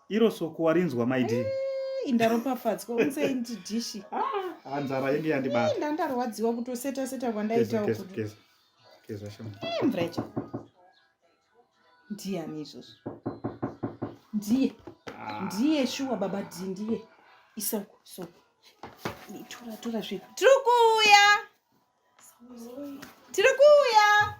iro soko warinzwa maidi eh, indaropafadzwa unsei ndi dishi ah, nzara yenge yandibata eh, ndandarwadziwa kutoseta seta kwandaitawo mvura yacho ndiyani izvozvo ndiye ah. ndiye shuwa baba di ndiye isoko soko tora tora zveku tiri kuuya tiri kuuya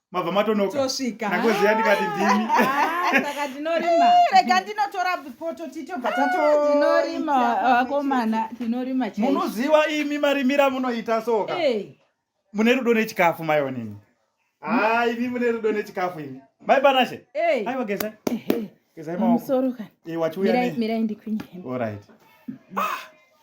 mabva matonoka tosvika nakoziya ndikati ndimi saka tinorima rega ndinotora poto titobva tatotinorima vakomana tinorima chai munoziva imi marimira munoita soka mune rudo nechikafu maionini haa imi mune rudo nechikafu imi mai panashe aiwa geza gezai maoko mirai ndikwinye allright ah!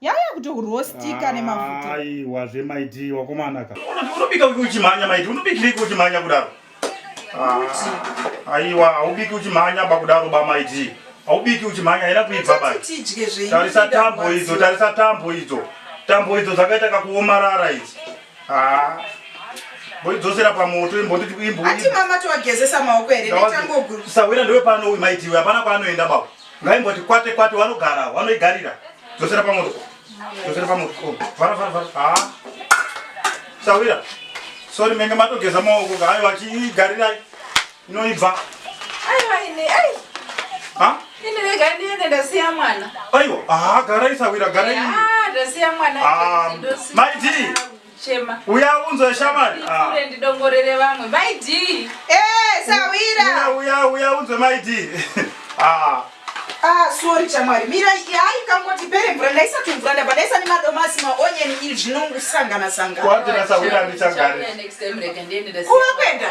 yaya kutorostika ah, nemafuta aiwa zvemaidi wakomana ka unobika uki uchimhanya maidi unobikiriko uchimhanya kudaro ah, aiwa haubiki uchimhanya ba kudaro ba maidi haubiki uchimhanya haina kuibva ba tarisa tambo idzo tarisa tambo idzo tambo idzo dzakaita kakuomarara idzi ah, boidzosera pamoto imbonditi imbo ati mama towagezesa maoko here ndetangoguru sawira ndewe pano maiti uyu hapana kwaanoenda baba ngaimboti kwate kwate wanogara wanoigarira dzosera pamoto dzosera pamoto oh, vara vara vara ha sawira sori menge matogeza maoko ka aiwa chiigarirai inoibva aiwa ini ai ha ini rega ndiende ndasiya mwana aiwa ha garai sawira garai ndasiya mwana ah, maiti chema uya unzwa shamari ah ure ndidongorere vamwe mai d eh sawira uya uya unzwa mai d ah Ah, sorry chamwari mira hayi kangoti pere mvura ndaisati mvura ndabva ndaisa nemadomasi maonyeni iri zvinongusangana sangana kuva kwenda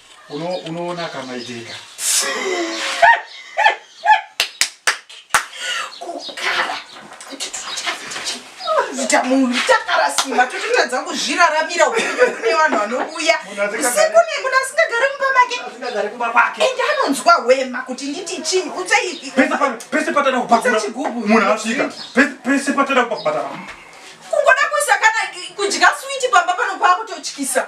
Uno unoona kama iteka. Kukara. Zita munhu takara simba tototadza kuzviraramira upenyu kune vanhu vanouya usiku nemuda asingagari mumba make asingagari kumba kwake ende anonzwa hwema kuti nditi chii utsei pese patana kupakura munhu asvika pese patana kupakura kungoda kuisa kana kudya switi pamba pano kwakutotyisa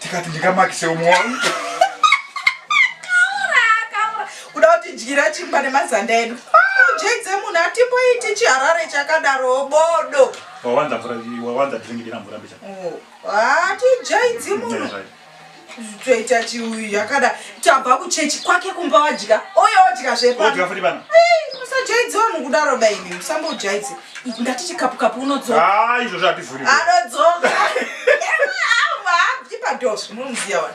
tikati ndingamakise umwe wangu kuda kuti dyira chimba nemazanda edu jeidze munhu atimboiti chiharare chakadaro bodo wawanza mvura wawanza drink dina mvura mbicha oh, ati jaidzi munhu toita chiuyu yakada tabva kuchechi kwake kumba wadya oyo odya zvepa odya futi bana musajaidzi vanhu kudaro baini musambojaidzi Ndati chikapu kapu unodzoka. Ah, izvo zvati vhuri. Anodzoka. Ema, ah, va, ipa dos, munziya wani.